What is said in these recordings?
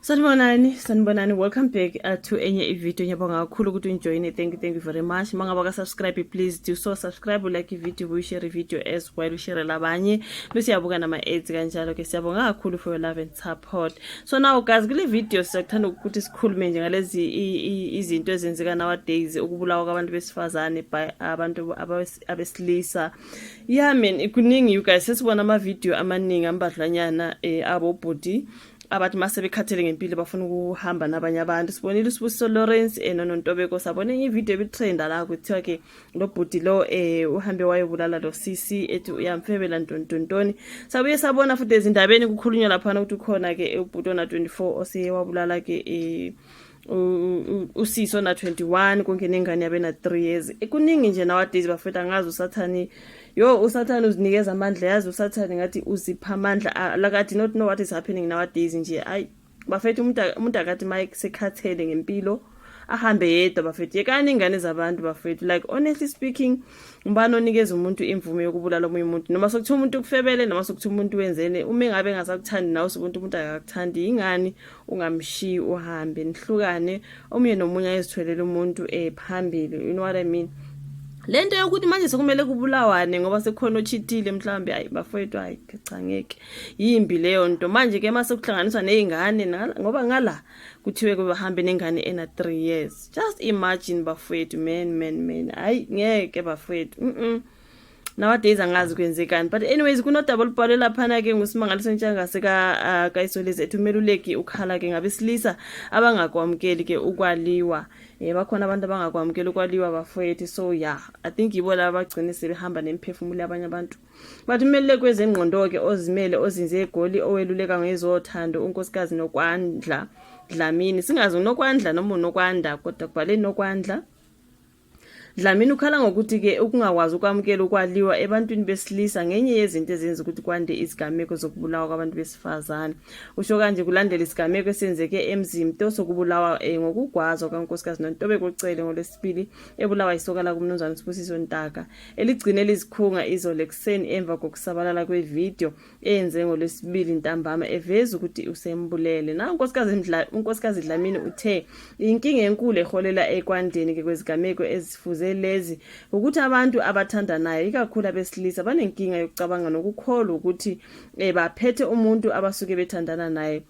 sanibonani sanibonani welcome back uh, to enye ivideo ngiyabonga kakhulu ukuthi ungijoyine thank you thank you very much uma ngaba kasubscribe please do so subscribe ulike ivideo uyishare ivideo as well ushare labanye bese uyabuka nama-aids kanjalo ke siyabonga kakhulu for your love and support so now guys kule video siyakuthanda ukuthi sikhulume nje ngalezi izinto ezenzeka nowadays ukubulawa kwabantu besifazane by abantu abesilisa ya mina kuningi you guys sesibona amavidiyo amaningi ambadlwanyana um abobhuti abathi uma sebekhathele ngempilo bafuna ukuhamba nabanye abantu sibonile usibusiso lawrence um eh, nonontobeko sabona enye ividiyo ebitrenda la kuthiwa ke lo bhuti lo um uhambe wayobulala lo cc ethi uyamfebela ntontontoni sabuye sabona futhi ezindabeni kukhulunywa laphana ukuthi ukhona-ke ubhuti ona-24 oseyewabulala-ke um usisi ona 21 konke nengane yabe na 3 years kuningi nje nowadays bafethu angazi usathane yo usathane uzinikeza amandla yazi usathane ngathi uzipha amandla ah, like i do not know what is happening nowadays nje ayi bafethu umuntu umuntu akathi mike sekhathele ngempilo ahambe yedwa bafethu yekani ingane zabantu bafethu like honestly speaking ngubani onikeza umuntu imvume yokubulala omunye umuntu noma sokuthiwa umuntu ukufebele noma sokuthiwa umuntu wenzele uma engabe engasakuthandi nawe sokuntu umuntu akakuthandi yingani ungamshiyi uhambe nihlukane omunye nomunye ayezithwelele umuntu eh phambili you know what i mean lento yokuthi manje sekumele kubulawane ngoba sekukhona ochithile mhlawumbe ayi bafowethu hayi cha ngeke yimbi leyo nto manje ke mase kuhlanganiswa nezingane ngoba ngala kuthiwe kubahambe nengane ena 3 years just imagine bafowethu man man man hayi ngeke bafowethu mhm nowadays angazi kwenzekani but anyways kunodaba olubhalwe laphana-ke ngusimangaliso ntshangase ah, kayisolezi ethi umeluleki ukhala ke ngabesilisa abangakwamukeli ke ukwaliwa um bakhona abantu abangakwamukeli ukwaliwa bafowethu so ya i think yibo laba bagcine sebehamba nemiphefumulo yabanye abantu but umeluleki wezengqondo-ke ozimele ozinze egoli oweluleka ngezothando unkosikazi nokwandla dlamini singazi unokwandla noma unokwanda kodwa kubhale nokwandla Dlamini ukhala ngokuthi ke ukungakwazi ukwamukela ukwaliwa ebantwini besilisa ngenye yezinto ezenza ukuthi kwande izigameko zokubulawa kwabantu besifazane. Usho kanje kulandela isigameko esenzeke eMzimto sokubulawa eh, ngokugwazwa kaNkosikazi Nontobeko Cele ngolwesibili ebulawa isoka lakuMnumzane Sibusiso Ntaka eligcine lizikhunga izolo ekuseni emva kokusabalala kwevideo eyenze ngolwesibili ntambama eveza ukuthi usembulele na unkosikazi dlamini uthe inkinga enkulu eholela ekwandeni ke kwezigameko ezifuze lezi ukuthi abantu abathandanayo ikakhulu abesilisa banenkinga yokucabanga nokukholwa ukuthi um baphethe umuntu abasuke bethandana naye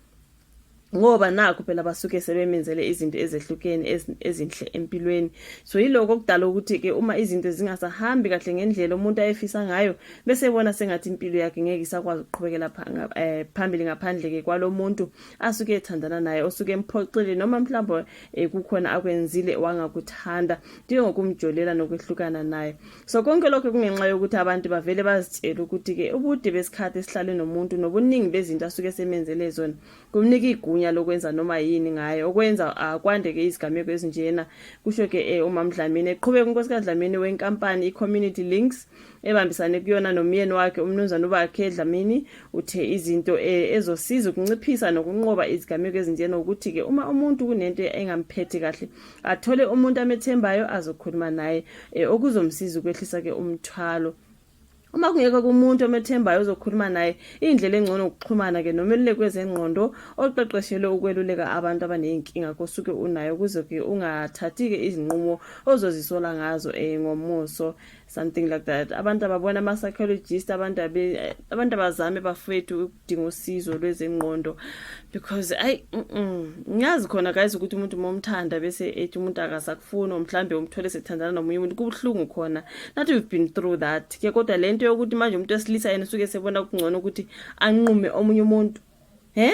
ngoba nakho phela basuke sebemenzele izinto ezehlukene ezinhle empilweni so yiloko okudala ukuthi ke uma izinto zingasahambi kahle ngendlela umuntu ayefisa ngayo bese ebona sengathi impilo yakhe ngeke isakwazi ukuqhubekela eh, phambili ngaphandle ke kwalomuntu asuke ethandana naye osuke emphoxile noma mhlawumbe eh, kukhona akwenzile wangakuthanda njengokumjolela nokwehlukana naye so konke lokho kungenxa yokuthi abantu bavele bazitshele ukuthi-ke ubude besikhathi esihlale nomuntu nobuningi bezinto asuke semenzele zona kumnika igunya lokwenza noma yini ngaye okwenza akwandeke izigameko ezinjena kusho-ke eh, umamdlamini eqhubeka unkosikazi dlamini wenkampani i-community links ebambisane kuyona nomyeni wakhe umnumzane ubakhe dlamini uthe izinto eh, ezosiza ukunciphisa nokunqoba izigameko ezinjena ukuthi-ke uma umuntu kunento engamphethi kahle athole umuntu amethembayo azokhuluma naye eh, okuzomsiza ukwehlisa ke umthwalo uma kungekho kumuntu omethembayo ozokhuluma naye indlela engcono ukuxhumana ke nomeluleki wezengqondo oqeqeshelwe ukweluleka abantu abaneyinkinga kosuke unayo ukuze ke ungathathi ke izinqumo ozozisola ngazo eh ngomuso something like that abantu ababona ama-psychologist abantu abantu abazame bafowethu ukudinga usizo lwezengqondo because ayi ngiyazi khona guys ukuthi umuntu uma umthanda bese ethi umuntu akasakufuni or mhlawumbe umthole sethandana nomunye umuntu kubuhlungu khona not we've been through that ke kodwa le nto yokuthi manje umuntu wesilisa yena usuke sebona kungcono ukuthi anqume omunye umuntu he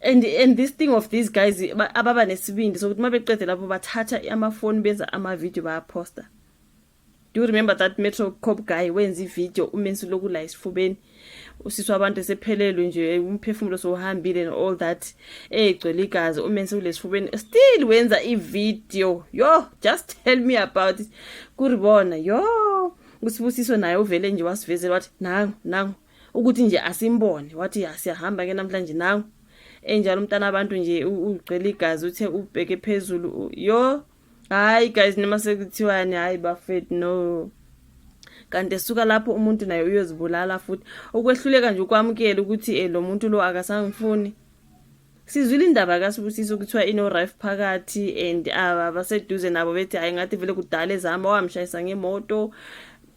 and and this thing of these guys ababa nesibindi sokuthi uma beqede lapho bathatha amafoni benza amavidiyo bayaphosta do you remember that metro cop guy wenza ividiyo umensi loku la esifubeni usisi wabantu esephelelwe nje umphefumulo sowuhambile and all that egcwele igazi umensi kulesifubeni still wenza ividiyo yo just tell me about it kuribona yo usibusiso naye uvele nje wasivezela wathi nangu nangu ukuthi nje asimbone wathi ya siyahamba ke namhlanje nangu enjalo umntana abantu nje ugcwele igazi uthe ubheke phezulu yo hayi guys noma sekuthiwani hayi bafethu no kanti esuka lapho umuntu naye uyozibulala futhi ukwehluleka nje ukwamukela ukuthi eh, lo muntu lo akasangifuni sizwile indaba kasibusiso kuthiwa inorife phakathi and ah, abaseduze nabo bethi hhayi ngathi vele kudala ezihamba wamshayisa ngemoto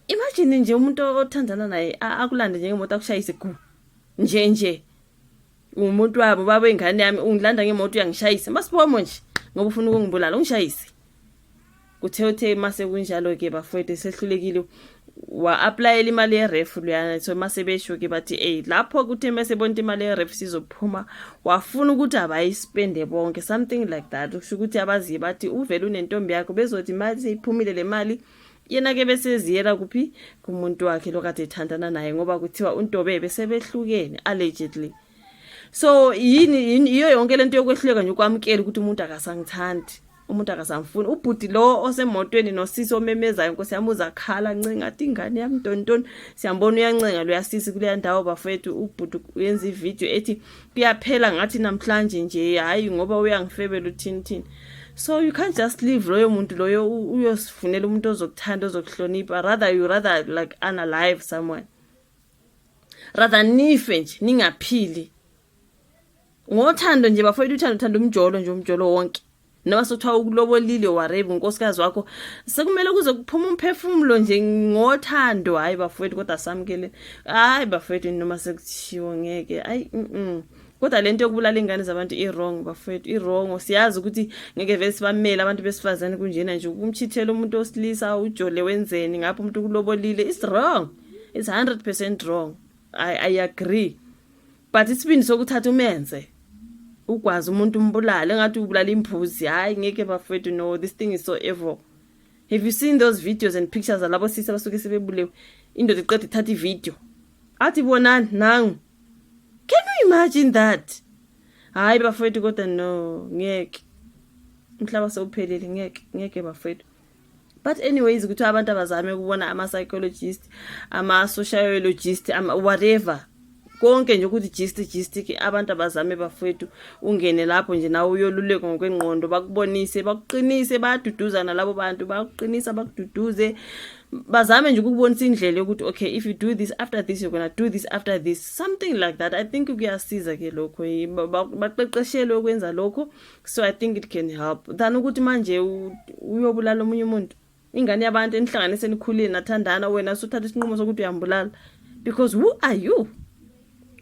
imagine nje umuntu othandana naye akulande njengemoto akushayise gu nje nje umuntu wabo baba ingane yami ungilanda ngemoto uyangishayisa masiphomo nje ngoba ufuna ukungibulala ungishayise Kuthe uthe mase kunjalo ke bafowethu esehlulekile wa-aplayela imali yeref luyana so mase besho ke bathi eyi lapho kuthe mese bonta imali yeref sizophuma wafuna ukuthi abayispende bonke something like that kusho ukuthi abaziye bathi uvele unentombi yakho bezothi mali seyiphumile le mali yena ke beseziyela kuphi kumuntu wakhe lokade ethandana naye ngoba kuthiwa untobe besebehlukene allegedly so yini yiyo yonke lento yokwehluleka nje ukwamukela ukuthi umuntu akasangithandi umuntu akasamfuni ubhuti lo osemotweni nosisi omemezayo nkosi yami uzakhala ncenga athi ingane yami ntontoni siyambona uyancenga luyasisi kuleya ndawo bafethu ubhuti uyenza ividiyo ethi kuyaphela ngathi namhlanje nje hhayi ngoba uyangifebela uthinithini so you can't just leave loyo muntu loyo uyosifunela umuntu ozokuthanda ozokuhlonipha rather you rather like unalive someone rather nife nje ningaphili ngothando nje bafowethu uthando uthanda umjolo nje umjolo wonke noma sothiwa ukulobolile warave unkosikazi wakho sekumele kuze kuphuma umphefumulo nje ngothando hhayi bafowethu kodwa samukele hhayi bafowethu noma sekuthiwo ngeke ayi mm, -mm. kodwa le nto yokubulala iy'ngane zabantu i-wrong bafowethu i-wrongo siyazi ukuthi ngeke vele sibamele abantu besifazane kunjena nje ukumchithela umuntu osilisa ujole wenzeni ngapho umuntu ukulobolile is wrong it's 100% wrong i i agree but isibindi sokuthatha umenze ukwazi umuntu umbulale ngathi ubulala imbuzi hayi ngeke bafethu no this thing is so evil have you seen those videos and pictures zalabo sisi abasuke sebebulewe indoda iqeda ithatha ivideo athi bonani nangu can you imagine that hayi bafethu kodwa no ngeke umhlaba sewuphelile ngeke ngeke bafethu but anyways kuthiwa abantu abazame ukubona ama-psychologist ama-sociologist ama whatever konke nje ukuthi gist gist ke abantu abazame bafowethu ungene lapho nje nawe uyoluleko ngokwengqondo bakubonise bakuqinise bayaduduzana labo bantu bakuqinisa bakududuze bazame nje ukubonisa indlela yokuthi okay if you do this after this you're gonna do this after this something like that i think kuyasiza ke lokho baqeqeshelwe ukwenza lokho so i think it can help than ukuthi manje uyobulala omunye umuntu ingane yabantu enihlanganise nikhulile nathandana wena suthatha isinqumo sokuthi uyambulala because who are you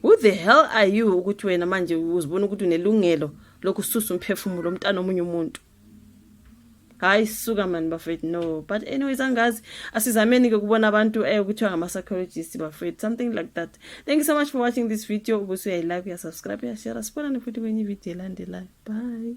who the hell are you ukuthi wena manje uzibona ukuthi unelungelo lokususa umphefumulo umntana omunye umuntu hayi suka mani bafethu no but anyways angazi asizameni ke kubona abantu eh kuthiwa ngama-psychologist bafethu something like that thank you so much for watching this video ubuse uyayilike uyasubscribe uyashare sibonane futhi kwenye ividiyo elandelayo bye